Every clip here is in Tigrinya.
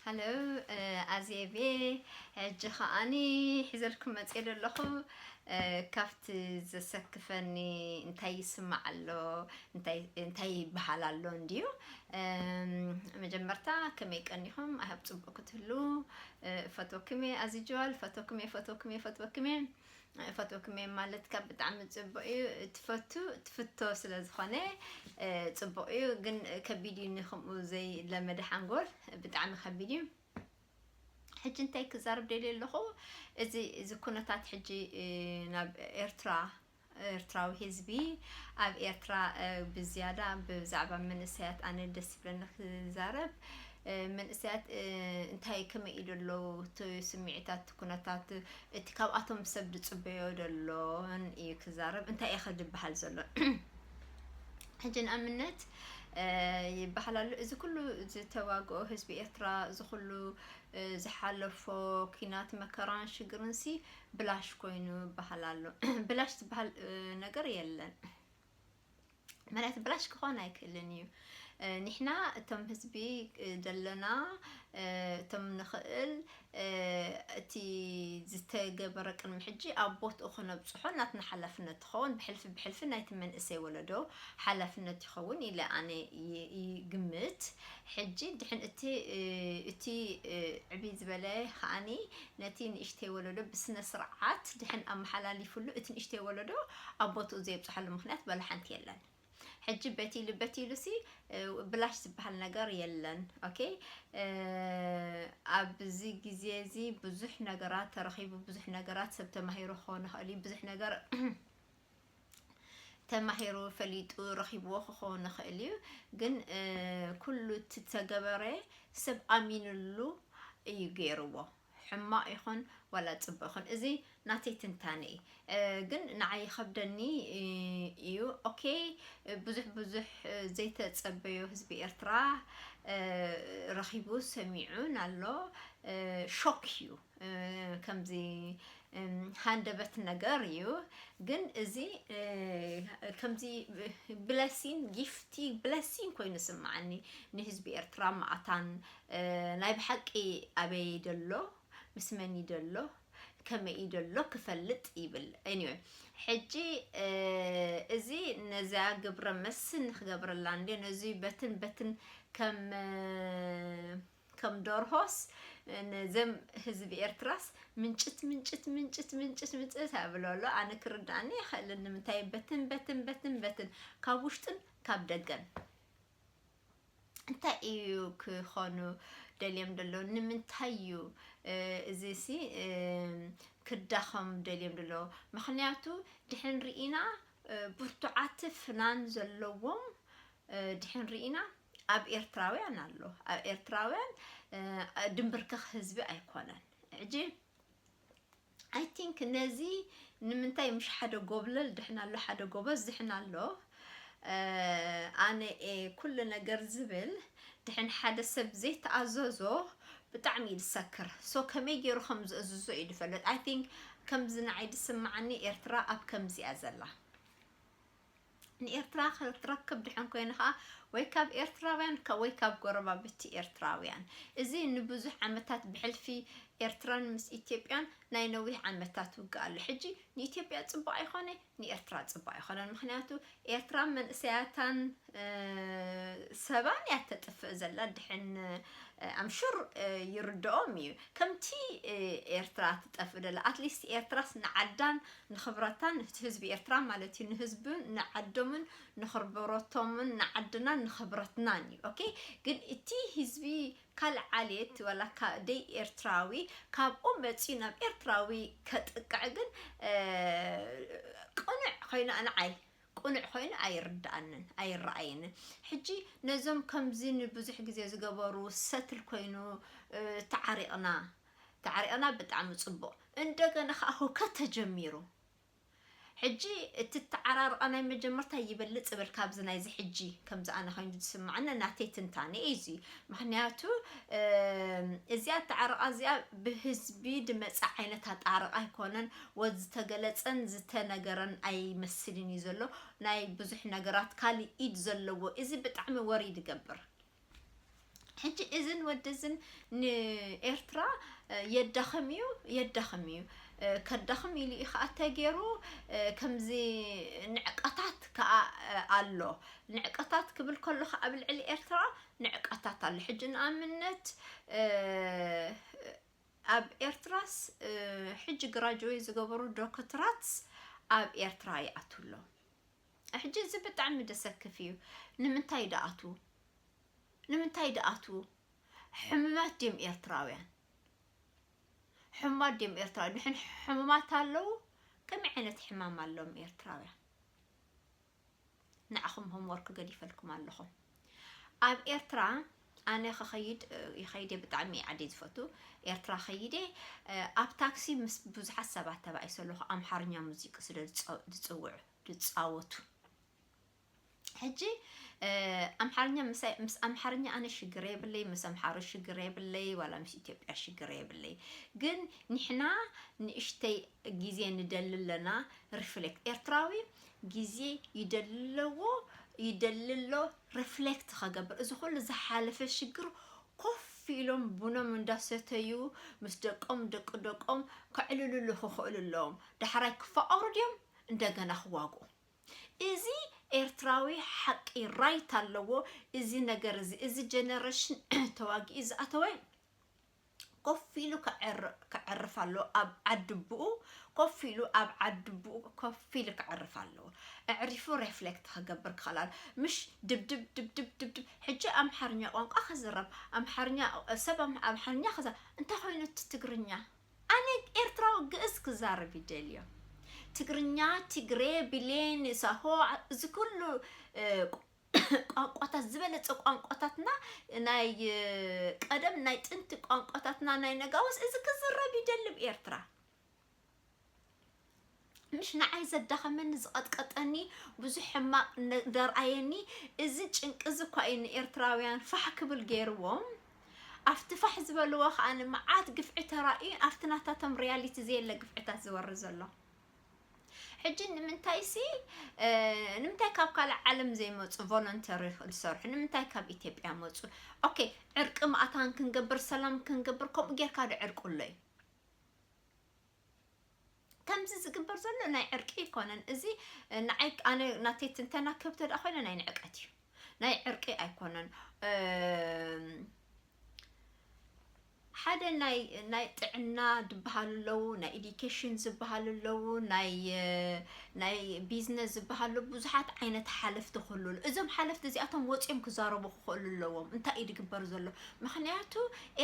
Hello ኣዜቤ ሕጂ ከኣኒ ሒዘልኩም መጽየ ዘለኹ ካብቲ ዘሰክፈኒ እንታይ ይስማዕ ኣሎ እንታይ እንታይ ይበሃል ኣሎ እንድዩ መጀመርታ ከመይ ቀኒኹም ኣብ ጽቡቕ ክትህሉ ፈትወክሜ ኣዚጅዋል ፈትወክሜ ፈትወክሜ ፈትወክሜ እፈትወክምየ ማለት ካብ ብጣዕሚ ፅቡቅ እዩ ትፈቱ ትፍቶ ስለ ዝኮነ ፅቡቅ እዩ ግን ከቢድ እዩ ንክምኡ ዘይለመደ ሓንጎል ብጣዕሚ ከቢድ እዩ ሕጂ እንታይ ክዛርብ ደልየ ኣለኹ እዚ እዚ ኩነታት ሕጂ ናብ ኤርትራ ኤርትራዊ ህዝቢ ኣብ ኤርትራ ብዝያዳ ብዛዕባ መንእሰያት ኣነ ደስ ዝብለኒ ክዛረብ መንእሰያት እንታይ ከመይ ኢሉ ኣለዉ እቲ ስምዒታት ኩነታት እቲ ካብኣቶም ሰብ ዝፅበዮ ዘሎን እዩ ክዛረብ እንታይ እየ ከድበሃል ዘሎን ሕጂ ንኣብነት ይበሃል ኣሎ እዚ ኩሉ ዝተዋግኦ ህዝቢ ኤርትራ እዚ ኩሉ ዝሓለፎ ኩናት መከራን ሽግርን ሲ ብላሽ ኮይኑ ይበሃል ኣሎ ብላሽ ዝበሃል ነገር የለን መሬት ብላሽ ክኾን ኣይክእልን እዩ ንሕና እቶም ህዝቢ ዘለና እቶም ንኽእል እቲ ዝተገበረ ቅድሚ ሕጂ ኣብ ቦትኡ ክነብፅሖ ናትና ሓላፍነት ትኸውን ብሕልፊ ብሕልፊ ናይቲ መንእሰይ ወለዶ ሓላፍነት ይኸውን ኢለ ኣነ ይግምት ሕጂ ድሕን እቲ እቲ ዕብይ ዝበለ ከዓኒ ነቲ ንእሽተይ ወለዶ ብስነ ስርዓት ድሕን ኣመሓላሊፍሉ እቲ ንእሽተይ ወለዶ ኣብ ቦትኡ ዘየብጽሐሉ ምክንያት በለ ሓንቲ የለን ሕጂ በቲ ኢሉ በቲ ኢሉ ሲ ብላሽ ዝበሃል ነገር የለን ኦኬ ኣብዚ ግዜ እዚ ብዙሕ ነገራት ተረኺቡ ብዙሕ ነገራት ሰብ ተማሂሩ ክኸውን ይኽእል እዩ ብዙሕ ነገር ተማሂሩ ፈሊጡ ረኺብዎ ክኸውን ይኽእል እዩ ግን ኩሉ እቲ ተገበረ ሰብ ኣሚንሉ እዩ ገይርዎ ሕማቅ ይኹን ዋላ ፅቡቅ ይኹን እዚ ናተይ ትንታነ እዩ ግን ንዓይ ይኸብደኒ እዩ ኦኬ ብዙሕ ብዙሕ ዘይተፀበዮ ህዝቢ ኤርትራ ረኺቡ ሰሚዑን ኣሎ ሾክ እዩ ከምዚ ሃንደበት ነገር እዩ ግን እዚ ከምዚ ብለሲን ጊፍቲ ብለሲን ኮይኑ ስምዓኒ ንህዝቢ ኤርትራ ማኣታን ናይ ብሓቂ ኣበይ እዩ ደሎ ምስ መን እዩ ደሎ ከመይ እዩ ደሎ ክፈልጥ ይብል anyway ሕጂ እዚ ነዚኣ ግብረ መስን ንክገብረላ እንዲ ነዚ በትን በትን ከም ከም ዶርሆስ ነዘም ህዝቢ ኤርትራስ ምንጭት ምንጭት ምንጭት ምንጭት ምንጭት ኣብሎ ኣሎ ኣነ ክርዳእኒ ይኽእል ንምንታይ በትን በትን በትን በትን ካብ ውሽጥን ካብ ደገን እንታይ እዩ ክኾኑ ደልዮም ደሎ ንምንታይ እዩ እዚ ሲ ክዳኸም ደልዮም ደሎ ምክንያቱ ድሕን ርኢና ብርቱዓት ፍናን ዘለዎም ድሕን ርኢና ኣብ ኤርትራውያን ኣሎ ኣብ ኤርትራውያን ድንብርክኽ ህዝቢ ኣይኮነን ሕጂ ኣይ ቲንክ ነዚ ንምንታይ ምሽ ሓደ ጎብለል ድሕና ኣሎ ሓደ ጎበዝ ድሕና ኣሎ ኣነ ኤ ኩሉ ነገር ዝብል ድሕን ሓደ ሰብ ዘይተኣዘዞ ብጣዕሚ እዩ ዝሰክር ሶ ከመይ ገይሩ ከም ዝእዝዞ እዩ ዝፈልጥ ኣይ ቲንክ ከምዚ ንዓይ ዝስምዓኒ ኤርትራ ኣብ ከምዚ እያ ዘላ ንኤርትራ ክትረክብ ድሐን ኮይኑ ከዓ ወይ ካብ ኤርትራውያን ወይ ካብ ጎረባብቲ ኤርትራውያን እዚ ንብዙሕ ዓመታት ብሕልፊ ኤርትራን ምስ ኢትዮጵያን ናይ ነዊሕ ዓመታት ውግእ ኣሎ ሕጂ ንኢትዮጵያ ፅቡቅ ኣይኮነ ንኤርትራ ፅቡቅ ኣይኮነን ምክንያቱ ኤርትራ መንእሰያታን ሰባን እያ ተጥፍእ ዘላ ድሕን ኣምሹር ይርድኦም እዩ ከምቲ ኤርትራ ትጠፍእ ደላ ኣትሊስት ኤርትራስ ንዓዳን ንክብረታ ንፍቲ ህዝቢ ኤርትራ ማለት እዩ ንህዝብን ንዓዶምን ንክርብረቶምን ንዓድናን ንክብረትናን እዩ ኦኬ ግን እቲ ህዝቢ ካልእ ዓሌት ወላ ካብ ደይ ኤርትራዊ ካብኡ መጺኡ ናብ ኤርትራዊ ከጥቅዕ ግን ቅኑዕ ኮይኑ ኣንዓይ ቅኑዕ ኮይኑ ኣይርድኣንን ኣይረኣየንን ሕጂ ነዞም ከምዚ ንብዙሕ ግዜ ዝገበሩ ሰትል ኮይኑ ተዓሪቕና ተዓሪቕና ብጣዕሚ ጽቡቕ እንደገና ከኣ ሁከት ተጀሚሩ ሕጂ እቲ እተዓራርቓ ናይ መጀመርታ ይበልጽ ይብል ካብዚ ናይዚ ሕጂ ከምዚ ኣነ ኮይኑ ዝስምዓኒ ናተይ ትንታነ እዩ እዚ ምክንያቱ እዚኣ እተዓርቓ እዚኣ ብህዝቢ ድመጸ ዓይነት ኣጣርቓ ኣይኮነን ወዝ ዝተገለጸን ዝተነገረን ኣይመስልን እዩ ዘሎ ናይ ብዙሕ ነገራት ካልእ ኢድ ዘለዎ እዚ ብጣዕሚ ወሪ ድገብር ሕጂ እዝን ወዲ እዝን ንኤርትራ የዳኽም እዩ የዳኽም እዩ ከዳኽም ኢሉ እዩ ከዓ ተገይሩ ከምዚ ንዕቀታት ከዓ ኣሎ ንዕቀታት ክብል ከሎ ከዓ ኣብ ልዕሊ ኤርትራ ንዕቀታት ኣሎ ሕጂ ንኣብነት ኣብ ኤርትራስ ሕጂ ግራጅዌ ዝገበሩ ዶክትራት ኣብ ኤርትራ ይኣትው ኣሎ ሕጂ እዚ ብጣዕሚ ደሰክፍ እዩ ንምንታይ ደኣትዉ ንምንታይ ደኣትዉ ሕሙማት ድም ኤርትራውያን ሕሙማት ድም ኤርትራ ንሕን ሕሙማት ኣለዉ ከመይ ዓይነት ሕማም ኣለዎም ኤርትራውያን ንዓኹም ሆምወርክ ገዲፈልኩም ኣለኹም ኣብ ኤርትራ ኣነ ክኸይድ ይኸይደ ብጣዕሚ ዓደ ዝፈቱ ኤርትራ ከይደ ኣብ ታክሲ ምስ ብዙሓት ሰባት ተባኢሰ ኣለኹ ኣምሓርኛ ሙዚቂ ስለ ዝፅውዑ ድጻወቱ ሕጂ ኣምሓርኛ ምስ ኣምሓርኛ ኣነ ሽግር የብለይ ምስ ኣምሓሮ ሽግር የብለይ ዋላ ምስ ኢትዮጵያ ሽግር የብለይ ግን ንሕና ንእሽተይ ግዜ ንደሊ ኣለና ሪፍሌክት ኤርትራዊ ግዜ ይደልለዎ ይደልሎ ሪፍሌክት ከገብር እዚ ኩሉ ዝሓለፈ ሽግር ኮፍ ኢሎም ቡኖም እንዳሰተዩ ምስ ደቆም ደቂ ደቆም ከዕልልሉ ክኽእሉ ኣለዎም ዳሕራይ ክፋቀሩ ድዮም እንደገና ክዋግኡ እዚ ኤርትራዊ ሓቂ ራይት ኣለዎ እዚ ነገር እዚ እዚ ጀነረሽን ተዋጊኡ ዝኣተወ ኮፍ ኢሉ ከዕርፍ ኣለዎ ኣብ ዓድቡኡ ኮፍ ኢሉ ኣብ ዓድቡኡ ኮፍ ኢሉ ከዕርፍ ኣለዎ ኣዕሪፉ ሬፍሌክት ክገብር ክኽእል ኣሎ ምሽ ድብድብ ድብድብ ድብድብ ሕጂ ኣምሓርኛ ቋንቋ ክዝረብ ኣምሓርኛ ሰብ ኣምሓርኛ ክዛ እንታይ ኮይኑ እቲ ትግርኛ ኣነ ኤርትራዊ ግእዝ ክዛረብ ይደልዮ ትግርኛ ትግሬ ብሌን ሳሆ እዚ ኩሉ ቋንቋታት ዝበለጸ ቋንቋታትና ናይ ቀደም ናይ ጥንቲ ቋንቋታትና ናይ ነጋውስ እዚ ክዝረብ ይደልብ ኤርትራ ምሽ ንዓይ ዘዳኸመኒ ዝቐጥቀጠኒ ብዙሕ ሕማቕ ነ- ዘርኣየኒ እዚ ጭንቂ እዚ እኳ እዩ ንኤርትራውያን ፋሕ ክብል ገይርዎም ኣብቲ ፋሕ ዝበልዎ ከዓ መዓት ግፍዒ ተራእዩ ኣብቲ ናታቶም ሪያሊቲ ዘየለ ግፍዕታት ዝወርድ ዘሎ ሕጂ ንምንታይ ሲ እ፣ ንምንታይ ካብ ካልእ ዓለም ዘይመፁ ቮለንተሪ ዝሰርሑ ንምንታይ ካብ ኢትዮጵያ መፁ ኦኬ ዕርቂ ማእታን ክንገብር ሰላም ክንገብር ከምኡ ጌርካ ዶ ዕርቂ ኣሎ እዩ ከምዚ ዝግበር ዘሎ ናይ ዕርቂ ኣይኮነን እዚ ንዓይ ኣነ ናተይ ትንተና ክብ ተደኣ ኮይነ ናይ ንዕቀት እዩ ናይ ዕርቂ ኣይኮነን ሓደ ናይ ናይ ጥዕና ዝበሃሉ ኣለዉ ናይ ኤዲኬሽን ዝበሃሉ ኣለዉ ናይ ናይ ቢዝነስ ዝበሃሉ ብዙሓት ዓይነት ሓለፍቲ ክህሉ እዞም ሓለፍቲ እዚኣቶም ወፂኦም ክዛረቡ ክኽእሉ ኣለዎም እንታይ እዩ ዝግበር ዘሎ ምክንያቱ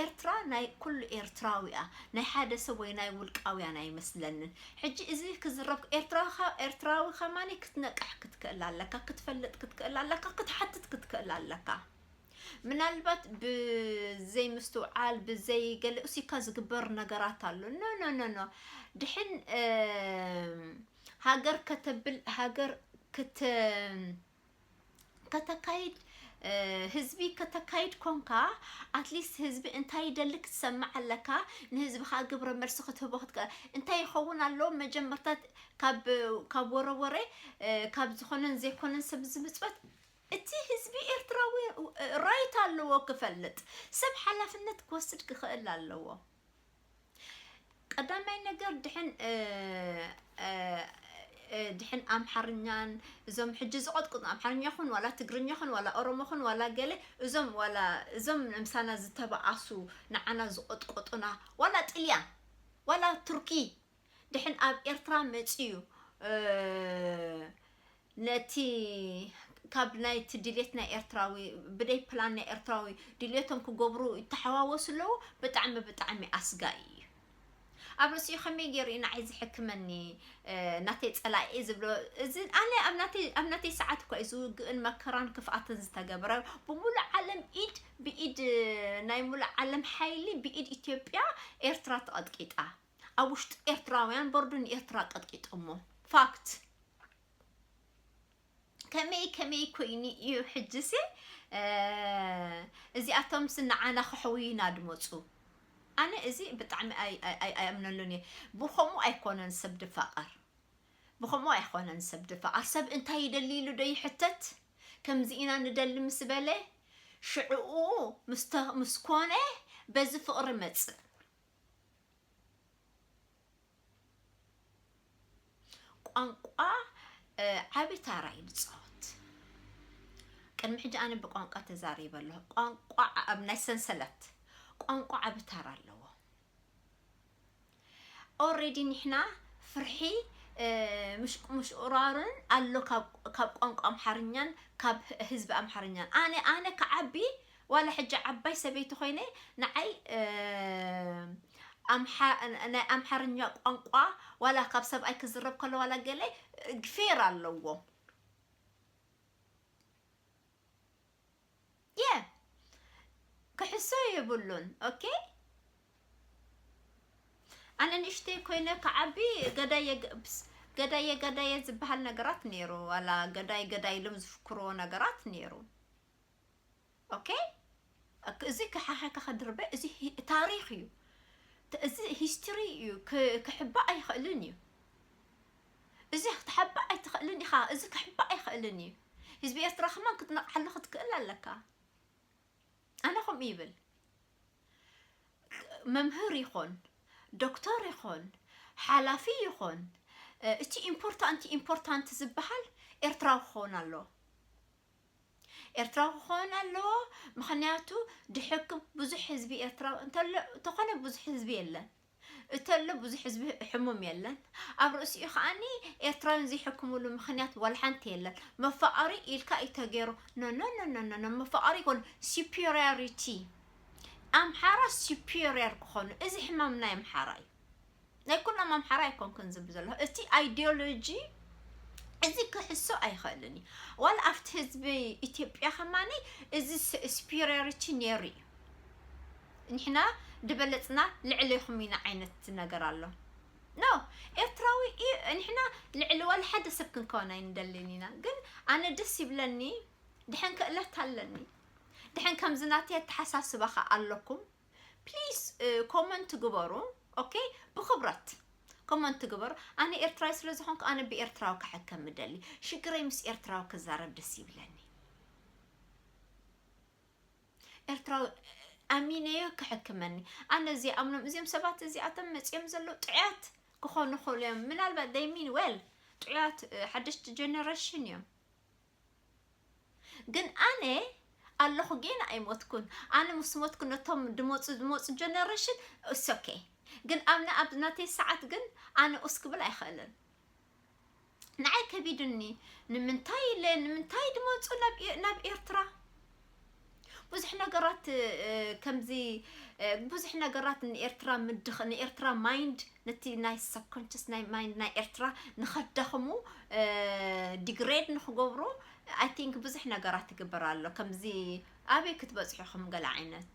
ኤርትራ ናይ ኩሉ ኤርትራዊ እያ ናይ ሓደ ሰብ ወይ ናይ ውልቃውያን ኣይመስለንን ሕጂ እዚ ክዝረብ ኤርትራዊ ኤርትራዊ ከማን ክትነቅሕ ክትክእል ኣለካ ክትፈልጥ ክትክእል ኣለካ ክትሓትት ክትክእል ኣለካ ምናልባት ብዘይ ምስትውዓል ብዘይ ገለ ኡሲካ ዝግበር ነገራት ኣሎ ኖ ኖ ኖ ኖ ድሕን ሃገር ከተብል ሃገር ክት ከተካይድ ህዝቢ ከተካይድ ኮንካ ኣትሊስት ህዝቢ እንታይ ይደሊ ክትሰምዕ ኣለካ ንህዝብኻ ግብረ መልሲ ክትህቦ ክትከ- እንታይ ይኸውን ኣሎ መጀመርታ ካብ ካብ ወረ ወረ እ፣ ካብ ዝኾነን ዘይኮነን ሰብ ዝምፅበት እቲ ህዝቢ ኤርትራዊ እ፣ ራይት ኣለዎ ክፈልጥ ሰብ ሓላፍነት ክወስድ ክኽእል ኣለዎ ቀዳማይ ነገር ድሕን ድሕን ኣምሓርኛን እዞም ሕጂ ዝቐጥቅጡ ኣምሓርኛ ኹን ዋላ ትግርኛ ኹን ዋላ ኦሮሞ ኹን ዋላ ገለ እዞም ዋላ እዞም ንምሳና ዝተባኣሱ ንዓና ዝቐጥቆጡና ዋላ ጥልያን ዋላ ቱርኪ ድሕን ኣብ ኤርትራ መፅዩ ነቲ ካብ ናይቲ ድሌት ናይ ኤርትራዊ ብደይ ፕላን ናይ ኤርትራዊ ድሌቶም ክገብሩ ይተሓዋወሱ ኣለዉ ብጣዕሚ ብጣዕሚ ኣስጋኢ እዩ ኣብ ርእሲኡ ከመይ ገይሩ እዩ ንዓይ ዝሕክመኒ ናተይ ፀላኢ ዝብሎ እዚ ኣነ ኣብ ናተይ ሰዓት እኳ እዩ ዝውግእን መከራን ክፍኣትን ዝተገብረ ብሙሉእ ዓለም ኢድ ብኢድ ናይ ሙሉእ ዓለም ሓይሊ ብኢድ ኢትዮጵያ ኤርትራ ተቐጥቂጣ ኣብ ውሽጢ ኤርትራውያን በርዱ ንኤርትራ ቀጥቂጦሞ ፋክት ከመይ ከመይ ኮይኑ እዩ ሕጅሲ እዚኣቶም ስንዓና ክሕውዩና ድመፁ ኣነ እዚ ብጣዕሚ ኣይኣምነሉን እየ ብከምኡ ኣይኮነን ሰብ ድፋቐር ብከምኡ ኣይኮነን ሰብ ድፋቐር ሰብ እንታይ ይደሊ ኢሉ ዶ ይሕተት ከምዚ ኢና ንደሊ ምስ በለ ሽዕኡ ምስ ኮነ በዚ ፍቕሪ መፅእ ቋንቋ ዓቢ ታራ እዩ ዝፃወት ቅድሚ ሕጂ ኣነ ብቋንቋ ተዛሪበ ኣለኹ ቋንቋ ኣብ ናይ ሰንሰለት ቋንቋ ዓቢ ታራ ኣለዎ ኦሬዲ ንሕና ፍርሒ ምሽቁራርን ኣሎ ካብ ቋንቋ ኣምሓርኛን ካብ ህዝቢ ኣምሓርኛን ኣነ ኣነ ክዓቢ ዋላ ሕጂ ዓባይ ሰበይቲ ኮይነ ንዓይ ናይ ኣምሓርኛ ቋንቋ ዋላ ካብ ሰብኣይ ክዝረብ ከሎ ዋላ ገለ ፌር ኣለዎ የ ክሕሶ የብሉን ኦኬ ኣነ ንእሽተይ ኮይነ ክዓቢ ገዳየ ግብስ ገዳየ ገዳየ ዝበሃል ነገራት ነይሩ ዋላ ገዳይ ገዳይ ኢሎም ዝፍክርዎ ነገራት ነይሩ ኦኬ እዚ ክሓሓካ ከድርበ እዚ ታሪኽ እዩ እዚ ሂስትሪ እዩ ክሕባእ ኣይኽእልን እዩ እዚ ክትሓባእ ኣይትኽእልን ኢኻ እዚ ክሕባእ ኣይኽእልን እዩ ህዝቢ ኤርትራ ከማን ክትነቕሓሉ ክትክእል ኣለካ ኣነ ከምኡ ይብል መምህር ይኾን ዶክተር ይኾን ሓላፊ ይኾን እቲ ኢምፖርታንት ኢምፖርታንት ዝበሃል ኤርትራዊ ክኸውን ኣለዎ ኤርትራዊ ክኾን ኣለዎ ምኽንያቱ ድሕክም ብዙሕ ህዝቢ ኤርትራዊ እንተሎ ተኾነ ብዙሕ ህዝቢ የለን እተሎ ብዙሕ ህዝቢ ሕሙም የለን ኣብ ርእሲኡ ከዓኒ ኤርትራውያን ዘይሕክምሉ ምኽንያት ወልሓንቲ የለን መፋቐሪ ኢልካ እዩ ተገይሩ ኖኖኖኖኖ መፋቐሪ ይኮኑ ሱፐሪዮሪቲ ኣምሓራ ሱፐሪየር ክኾኑ እዚ ሕማም ናይ ኣምሓራ እዩ ናይ ኩሎም ኣምሓራ ኣይኮንኩን ዝብ ዘለኹ እቲ ኣይዲዮሎጂ እዚ ክሕሶ ኣይኽእልን እዩ ዋላ ኣብቲ ህዝቢ ኢትዮጵያ ከማኒ እዚ ስፒሪሪቲ ነይሩ እዩ ንሕና ድበለፅና ልዕሌኹም ኢና ዓይነት ነገር ኣሎ ኖ ኤርትራዊ ንሕና ልዕሊ ዋላ ሓደ ሰብ ክንከውን ኣይንደልን ኢና ግን ኣነ ደስ ይብለኒ ድሐን ክእለት ኣለኒ ድሐን ከምዚ ናተይ ኣተሓሳስባ ኸ ኣለኩም ፕሊስ ኮመንት ግበሩ ኦኬ ብክብረት ኮመንት ግበሩ ኣነ ኤርትራዊ ስለ ዝኾንኩ ኣነ ብኤርትራዊ ክሕከም ምደሊ ሽግረይ ምስ ኤርትራዊ ክዛረብ ደስ ይብለኒ ኤርትራዊ ኣሚነዮ ክሕክመኒ ኣነ እዚኣምኖም እዚኦም ሰባት እዚኣቶም መፅኦም ዘለዉ ጥዕያት ክኾኑ ክእሉ እዮም ምናልባት ደይ ሚን ዌል ጥዕያት ሓደሽቲ ጀነሬሽን እዮም ግን ኣነ ኣለኹ ጌና ኣይሞትኩን ኣነ ምስ ሞትኩ ነቶም ድመፁ ዝመፁ ጀነሬሽን እስ ኦኬ ግን ኣብና ኣብ ናተይ ሰዓት ግን ኣነ ኡስ ክብል ኣይኽእልን ንዓይ ከቢዱኒ ንምንታይ ኢለ ንምንታይ ድመፁ ናብ ኤርትራ ብዙሕ ነገራት ከምዚ ብዙሕ ነገራት ንኤርትራ ምድኽ ንኤርትራ ማይንድ ነቲ ናይ ሰብኮንሽስ ናይ ማይንድ ናይ ኤርትራ ንኸዳኽሙ ዲግሬድ ንኽገብሩ ኣይ ቲንክ ብዙሕ ነገራት ይግበር ኣሎ ከምዚ ኣበይ ክትበፅሑ ኢኹም ገለ ዓይነት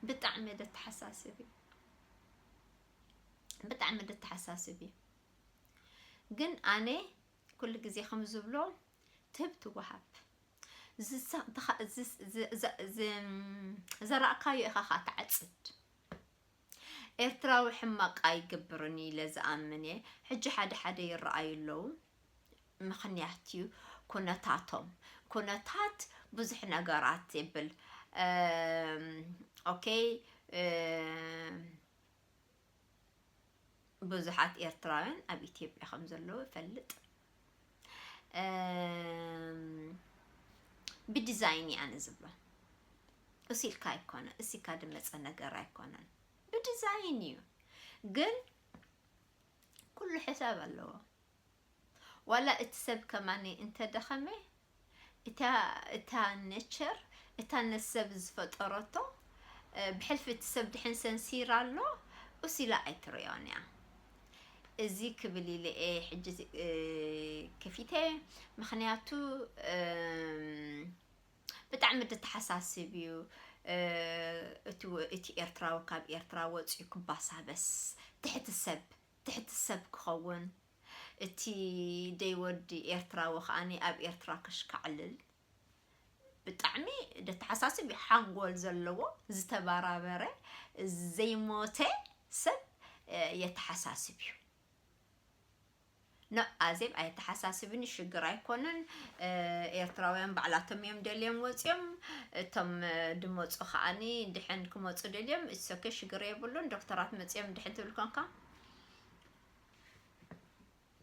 ብጣዕሚ ደተሓሳስብ እዩ ብጣዕሚ ደተሓሳስብ እዩ ግን ኣነ ኩሉ ግዜ ከም ዝብሎ ትህብ ትወሃብ ዘራእካዮ ኢኻ ኸኣ ትዓጽድ ኤርትራዊ ሕማቅ ኣይገብርን ኢለ ዝኣምን እየ ሕጂ ሓደ ሓደ ይረኣዩ ኣለዉ ምኽንያት እዩ ኩነታቶም ኩነታት ብዙሕ ነገራት ይብል ኦኬ ብዙሓት ኤርትራውያን ኣብ ኢትዮጵያ ከም ዘለዉ እፈልጥ ብዲዛይን እየ ኣነ ዝብሎ እሱ ኢልካ ኣይኮነ እሲካ ድመፀ ነገር ኣይኮነን ብዲዛይን እዩ ግን ኩሉ ሕሳብ ኣለዎ ዋላ እቲ ሰብ ከማን እንተ ደኸመ እታ እታ ነቸር እታ ነሰብ ዝፈጠሮቶ ብሕልፊ እቲ ሰብ ድሕን ሰንሲራ ኣሎ ኡስ ኢላ ኣይትሪኦን እያ እዚ ክብል ኢለ እየ ሕጂ ከፊተ ምኽንያቱ ብጣዕሚ ድተሓሳስብ እዩ እቲ እቲ ኤርትራዊ ካብ ኤርትራ ወጽዩ ክባሳበስ ትሕቲ ሰብ ትሕቲ ሰብ ክኸውን እቲ ደይ ወዲ ኤርትራዊ ከኣኒ ኣብ ኤርትራ ከሽካዕልል ብጣዕሚ ደተሓሳስብ እዩ ሓንጎል ዘለዎ ዝተባራበረ ዘይሞተ ሰብ የተሓሳስብ እዩ። ኖእ ኣዜብ ኣየተሓሳስብን ሽግር ኣይኮነን ኤርትራውያን ባዕላቶም እዮም ደልዮም ወጽዮም እቶም ድመጹ ከዓኒ ድሕን ክመጹ ደልዮም ኢትስ ኦኬ ሽግር የብሉን ዶክተራት መጽዮም ድሕን ትብል ኮንካ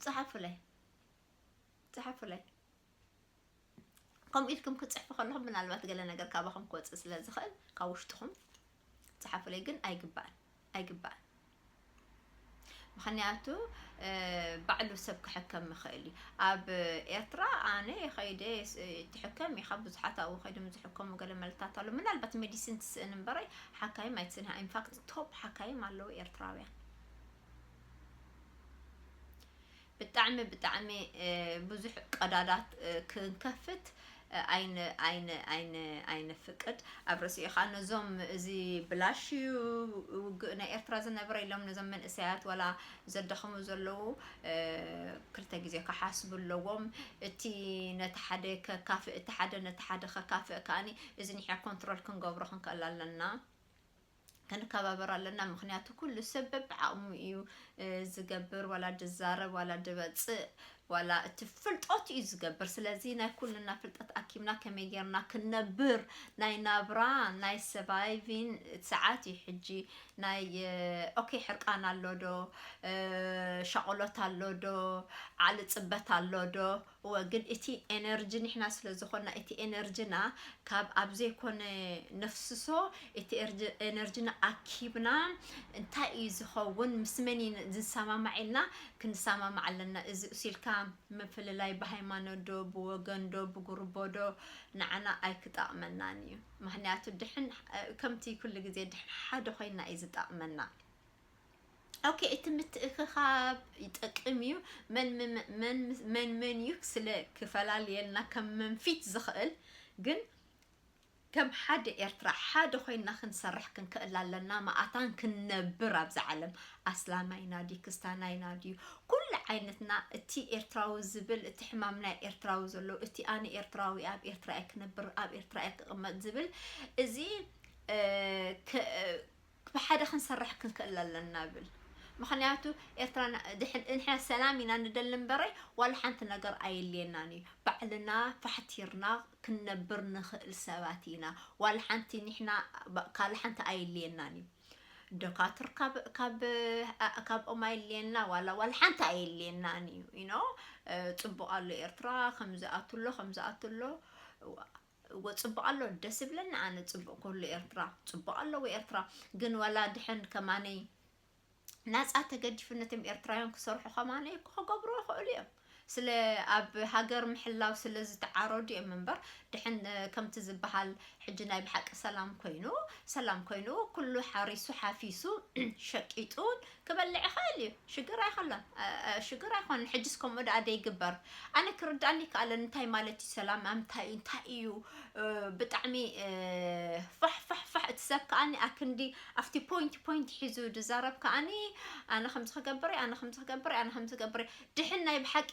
ጽሓፉለይ ጽሓፉለይ ከምኡ ኢልኩም ክትጽሕፉ ከለኹም ምናልባት ገለ ነገር ካባኹም ክወጽእ ስለ ዝኽእል ካብ ውሽጥኹም ጸሓፉለይ ግን ኣይግባእን ኣይግባእን ምክንያቱ ባዕሉ ሰብ ክሕከም ይኽእል እዩ ኣብ ኤርትራ ኣነ ከይደ ትሕከም ኢኻ ብዙሓት ኣብኡ ከይዶም ዝሕከሙ ገለ መልታት ኣሎ ምናልባት ሜዲሲን ትስእን እምበረይ ሓካይም ኣይትስእን ኢንፋክት ቶፕ ሓካይም ኣለዉ ኤርትራውያን ብጣዕሚ ብጣዕሚ ብዙሕ ቀዳዳት ክንከፍት ኣይን ኣይን ኣይን ኣይንፍቅድ ኣብ ርእሲኡ ከዓ ነዞም እዚ ብላሽ እዩ ውግእ ናይ ኤርትራ ዝነበረ ኢሎም ነዞም መንእሰያት ዋላ ዘዳኽሙ ዘለዉ እ፣ ክልተ ግዜ ክሓስቡ ኣለዎም እቲ ነቲ ሓደ ከካፍእ እቲ ሓደ ነቲ ሓደ ከካፍእ ከዓኒ እዚ ንሕና ኮንትሮል ክንገብሮ ክንክእል ኣለና ክንከባበር ኣለና ምክንያቱ ኩሉ ሰብ በብዓቕሙ እዩ ዝገብር ዋላ ድዛረብ ዋላ ድበፅእ ዋላ እቲ ፍልጠት እዩ ዝገብር ስለዚ ናይ ኩልና ፍልጠት ኣኪብና ከመይ ጌርና ክንነብር ናይ ናብራ ናይ ሰቫይቪን ሰዓት እዩ ሕጂ ናይ ኦኬ ሕርቃን ኣሎ ዶ ሻቆሎት ኣሎ ዶ ዓሊ ፅበት ኣሎ ዶ እወ ግን እቲ ኤነርጂ ንሕና ስለ ዝኾና እቲ ኤነርጅና ካብ ኣብ ዘይኮነ ነፍስሶ እቲ ኤነርጅና ኣኪብና እንታይ እዩ ዝኸውን ምስ መን እዩ ዝንሰማማዕ ኢልና ክንሰማማዕ ኣለና እዚ እሱ ኢልካ ምፍልላይ ብሃይማኖት ዶ ብወገን ዶ ብጉርቦ ዶ ንዓና ኣይክጠቕመናን እዩ ምክንያቱ ድሕን ከምቲ ኩሉ ግዜ ድሕን ሓደ ኮይና እዩ ዝጠቕመና። ኦኬ እቲ ምትእኽኻብ ይጠቅም እዩ መን መን እዩ ስለ ክፈላልየልና ከም መንፊት ዝኽእል ግን ከም ሓደ ኤርትራ ሓደ ኮይና ክንሰርሕ ክንክእል ኣለና መኣታን ክንነብር ኣብዚ ዓለም ኣስላማይና ድዩ ክስታናይና ድዩ ኩሉ ዓይነትና እቲ ኤርትራዊ ዝብል እቲ ሕማም ናይ ኤርትራዊ ዘሎ እቲ ኣነ ኤርትራዊ ኣብ ኤርትራ እየ ክነብር ኣብ ኤርትራ እየ ክቕመጥ ዝብል እዚ ብሓደ ክንሰርሕ ክንክእል ኣለና እብል ምክንያቱ ኤርትራ ንሕና ሰላም ኢና ንደሊ እምበረይ ዋላ ሓንቲ ነገር ኣየድልየናን እዩ ባዕልና ፋሕቲርና ክንነብር ንክእል ሰባት ኢና ዋላ ሓንቲ ኒሕና ካልእ ሓንቲ ኣየድልየናን እዩ ዶካትር ካብ ካብ ካብኦም ኣየድልየና ዋላ ዋላ ሓንቲ ኣየድልየናን እዩ ኢኖ ጽቡቅ ኣሎ ኤርትራ ከምዚ ኣትሎ ከምዚ ኣትሎ እወ ጽቡቅ ኣሎ ደስ ይብለኒ ኣነ ጽቡቅ ኩሉ ኤርትራ ጽቡቅ ኣለዎ ኤርትራ ግን ዋላ ድሕን ከማነይ ናጻ ተገዲፉ ነቶም ኤርትራውያን ክሰርሑ ከማነይ እኮ ክገብሩ ይኽእሉ እዮም ስለ ኣብ ሃገር ምሕላው ስለ ዝተዓረዱ እዮም እምበር ድሕን ከምቲ ዝበሃል ሕጂ ናይ ብሓቂ ሰላም ኮይኑ ሰላም ኮይኑ ኩሉ ሓሪሱ ሓፊሱ ሸቂጡን ክበልዕ ይክእል እዩ ሽግር ኣይከሎን ሽግር ኣይኮነን ሕጅስ ከምኡ ደኣ ደይግበር ኣነ ክርድኣኒ ይከኣለን እንታይ ማለት እዩ ሰላም ኣምታይ እዩ እንታይ እዩ ብጣዕሚ ፋሕ ፋሕ ፋሕ እቲ ሰብ ከኣኒ ኣክንዲ ኣብቲ ፖይንት ፖይንት ሒዙ ድዛረብ ከኣኒ ኣነ ከምዚ ክገብር ኣነ ከምዚ ክገብር ኣነ ከምዚ ክገብር ድሕን ናይ ብሓቂ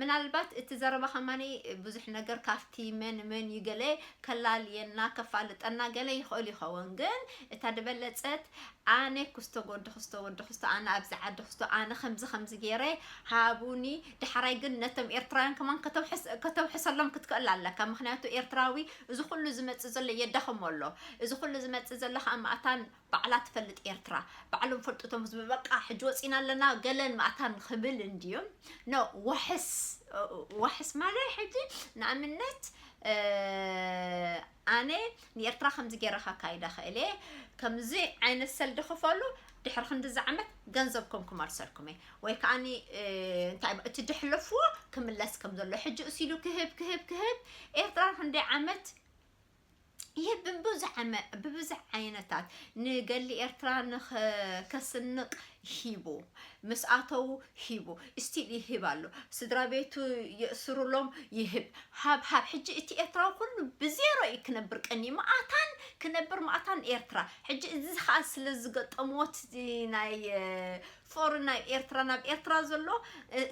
ምናልባት እቲ ዘረባ ከማኒ ብዙሕ ነገር ካብቲ መን መን እዩ ገለ ከላልየና ከፋልጠና ገለ ይኽእል ይኸውን ግን እታ ድበለጸት ኣነ ኩስቶ ጎዲ ኩስቶ ወዲ ኩስቶ ኣነ ኣብዚ ዓዲ ኩስቶ ኣነ ከምዚ ከምዚ ገይረ ሃቡኒ ዳሕራይ ግን ነቶም ኤርትራውያን ከማን ከተውሕሰሎም ክትክእል ኣለካ ምክንያቱ ኤርትራዊ እዚ ኩሉ ዝመጽእ ዘሎ የዳኸሞ ኣሎ እዚ ኩሉ ዝመጽእ ዘሎ ከዓ ማእታን ባዕላ ትፈልጥ ኤርትራ ባዕሎም ፈልጡ እቶም ህዝቢ በቃ ሕጂ ወጺና ኣለና ገለን ማእታን ክብል እንድዩ ኖ ዋሕስ ዋሕስ ማለት ሕጂ ንኣብነት ኣነ ንኤርትራ ከምዚ ገይረ ካካይዳ ክእል እየ ከምዚ ዓይነት ሰልዲ ክፈሉ ድሕሪ ክንዲ ዝዓመት ገንዘብኩም ክመልሰልኩም እየ ወይ ከዓ እንታይ እቲ ድሕለፍዎ ክምለስ ከም ዘሎ ሕጂ እሲሉ ክህብ ክህብ ክህብ ኤርትራ ክንደይ ዓመት ይህ ብብዙሕ ዓይነታት ንገሊ ኤርትራ ንከስንቕ ሂቡ ምስ ኣተው ሂቡ ስቲል ይህብ ኣሎ ስድራ ቤቱ የእስሩሎም ይህብ ሃብ ሃብ ሕጂ እቲ ኤርትራዊ ኩሉ ብዜሮ እዩ ክነብር ቀኒ መኣታን ክነብር መኣታን ኤርትራ ሕጂ እዚ ከዓ ስለ ዝገጠምዎ እቲ ናይ ጾር ናይ ኤርትራን ኣብ ኤርትራ ዘሎ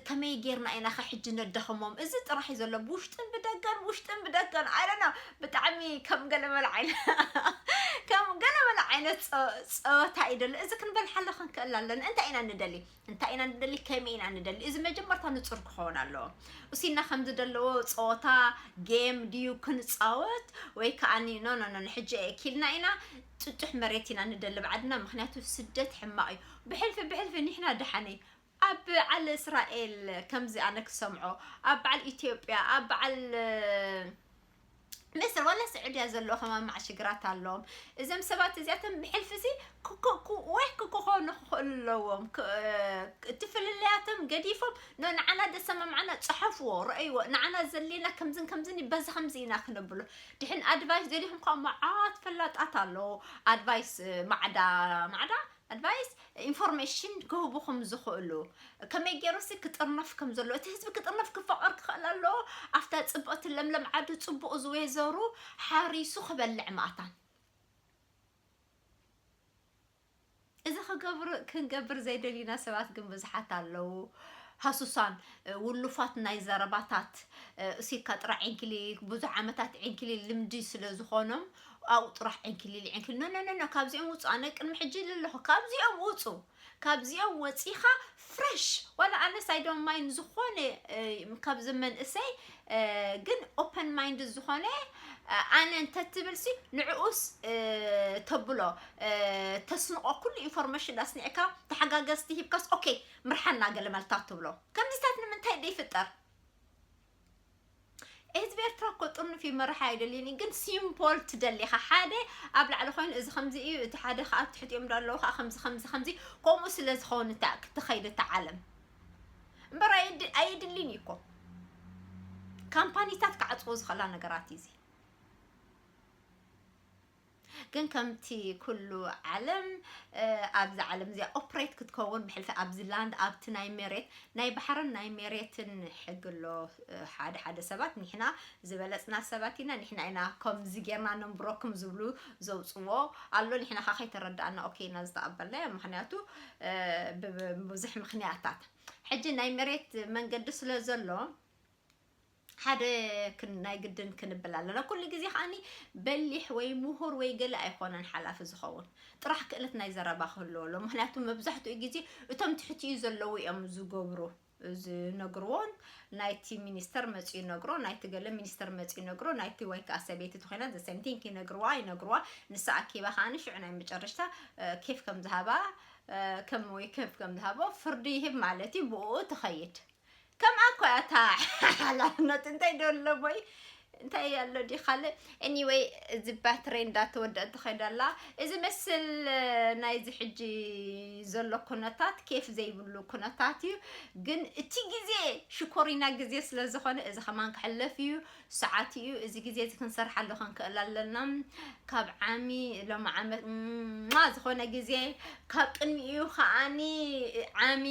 ከመይ ጌርና ኢና ከ ሕጂ ነዳኽሞም እዚ ጥራሕ እዩ ዘሎ ብውሽጥን ብደገን ውሽጥን ብደገን ኣይ ዶንት ኖ ብጣዕሚ ከም ገለ መለ ዓይነት ከም ገለ መለ ዓይነት ጸ- ጸወታ እዩ ዘሎ እዚ ክንበልሓሉ ክንክእል ኣለና እንታይ ኢና ንደሊ እንታይ ኢና ንደሊ ከመይ ኢና ንደሊ እዚ መጀመርታ ንጹር ክኸውን ኣለዎ እሲና ከም ዝደለዎ ጸወታ ጌም ድዩ ክንጻወት ወይ ከዓኒ ኖ ኖ ኖ ሕጂ እኪልና ኢና ጥጡሕ መሬት ኢና ንደሊ ባዕድና ምክንያቱ ስደት ሕማቅ እዩ ብሕልፊ ብሕልፊ ኒሕና ደሓንይ ኣብ ብዓል እስራኤል ከምዚ ኣነ ክሰምዖ ኣብ ብዓል ኢትዮጵያ ኣብ ብዓል ምስር ወላ ስዑድያ ዘለዎ ከማማዕ ሽግራት ኣለዎም እዞም ሰባት እዚኣቶም ብሕልፊ ሲ ወይ ክክኾኑ ክኽእሉ ኣለዎም ክ- እ- እቲ ፍልልያቶም ገዲፎም ኖ ንዓና ደሰማምዓና ፅሐፍዎ ረእይዎ ንዓና ዘድልየና ከምዝን ከምዝን እዩ፣ በዚ ከምዚ ኢና ክንብሎ ድሕን ኣድቫይስ ደሊኹም ከዓ መዓት ፈላጣት ኣለዎ ኣድቫይስ ማዕዳ ማዕዳ ኣድቫይስ፣ ኢንፎርሜሽን፣ ክህቡኹም ዝኽእሉ ከመይ ገይሩሲ ክጥርነፍ ከም ዘለዎ እቲ ህዝቢ ክጥርነፍ ክፋቐር ክኽእል ኣለዎ ኣብታ ጽብቕቲ ለምለም ዓዱ ጽቡቕ ዝዌዘሩ ሓሪሱ ክበልዕ ማእታን እዚ ክገብር ክንገብር ዘይደልዩና ሰባት ግን ብዙሓት ኣለዉ ሃሱሳን ውሉፋት ናይ ዘረባታት እሲካ ጥራ ዒንኪሊል ብዙሕ ዓመታት ዒንኪሊል ልምዲ ስለ ዝኾኖም ኣብኡ ጥራሕ ዕንኪሊል ዕንኪሊል ኖኖኖኖ ካብዚኦም ውጹ ኣነ ቅድሚ ሕጂ ኢለ ኣለኹ ካብዚኦም ውጹ ካብዚኦም ወጺኻ ፍረሽ ዋላ ኣነስ ኣይ ዶንት ማይንድ ዝኾነ ካብዚ መንእሰይ ግን ኦፐን ማይንድ ዝኾነ ኣነ እንተትብልሲ ንዕኡስ ተብሎ ተስንቆ ኩሉ ኢንፎርሜሽን ኣስኒዕካ ተሓጋገዝቲ ሂብካስ ኦኬ ምርሓና ገለ መልታት ትብሎ ከምዚታት ንምንታይ ደይፍጠር ህዝቢ ኤርትራ እኮ ጥርኑፍ እዩ መራሒ ኣይደልይን እዩ ግን ሲምፖል ትደሊ ኢኻ ሓደ ኣብ ላዕሊ ኮይኑ እዚ ከምዚ እዩ እቲ ሓደ ከዓ ኣብ ትሕቲኦም ዶ ኣለዉ ከዓ ከምዚ ከምዚ ከምዚ ከምኡ ስለ ዝኸውን እታ ክትኸይድ እታ ዓለም እምበር ኣየድ- ኣየድልን እዩ እኮ ካምፓኒታት ክዓፅዎ ዝኽእላ ነገራት እዩ እዚ ግን ከምቲ ኩሉ ዓለም ኣብዚ ዓለም እዚኣ ኦፕሬት ክትከውን ብሕልፊ ኣብዚ ላንድ ኣብቲ ናይ መሬት ናይ ባሕርን ናይ መሬትን ሕጊ ኣሎ ሓደ ሓደ ሰባት ንሕና ዝበለፅና ሰባት ኢና ንሕና ኢና ከምዚ ጌርና ነንብረኩም ዝብሉ ዘውፅዎ ኣሎ ንሕና ካ ከይተረዳእና ኦኬ ኢና ዝተቐበልናዮ ምክንያቱ ብዙሕ ምክንያታት ሕጂ ናይ መሬት መንገዲ ስለ ዘሎ ሓደ ክን ናይ ግድን ክንብል ኣለና ኩሉ ግዜ ከኣኒ በሊሕ ወይ ምሁር ወይ ገለ ኣይኮነን ሓላፊ ዝኸውን ጥራሕ ክእለት ናይ ዘረባ ክህልዎ ኣሎ ምክንያቱ መብዛሕትኡ ግዜ እቶም ትሕቲኡ ዘለዉ እዮም ዝገብሩ ዝነግርዎን ናይቲ ሚኒስተር መፂኡ ይነግሮ ናይቲ ገለ ሚኒስተር መፂኡ ይነግሮ ናይቲ ወይ ከዓ ሰበይቲ ተኮይና ዘሰምቲንክ ይነግርዋ ይነግርዋ ንሳ ኣኪባ ከዓኒ ሽዑ ናይ መጨረሽታ እ፣ ኬፍ ከም ዝሃባ እ፣ ከም ወይ ኬፍ ከም ዝሃቦ ፍርዲ ይህብ ማለት እዩ ብኡ ትኸይድ ከምኣ እኮ እያ እታ ሓላፍነት እንታይ ዶ ኣሎ ወይ እንታይ እያ ኣሎ ዲ ካልእ ኤኒወይ እዚ ባትሪ እንዳተወደአት ትኸይድ ኣላ እዚ መስል ናይዚ ሕጂ ዘሎ ኩነታት ኬፍ ዘይብሉ ኩነታት እዩ ግን እቲ ግዜ ሽኮሪና ግዜ ስለ ዝኾነ እዚ ከማን ክሕለፍ እዩ ሰዓት ኢዩ እዚ ግዜ እዚ ክንሰርሓሉ ክንክእል ኣለና ካብ ዓሚ ሎሚ ዓመት ማ ዝኾነ ግዜ ካብ ቅድሚ ኢዩ ከዓኒ ዓሚ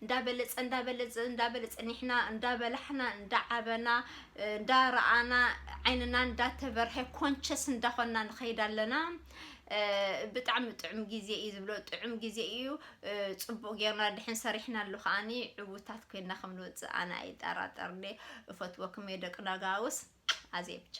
እንዳበለጸ እንዳበለጸ እንዳበለጸ ኒሕና እንዳበላሕና እንዳዓበና እንዳረኣና ዓይንና እንዳተበርሀ ኮንቸስ እንዳኾንና ንኸይድ ኣለና ብጣዕሚ ጥዑም ግዜ እዩ ዝብሎ ጥዑም ግዜ እዩ ፅቡቅ ጌርና ድሕን ሰሪሕናሉ ከዓኒ ዕውታት ኮይና ከም ንወፅእ ኣነ ኣይጠራጠርኒ እፈትወኩም እየ ደቂ ነጋውስ ኣዜ ብቻ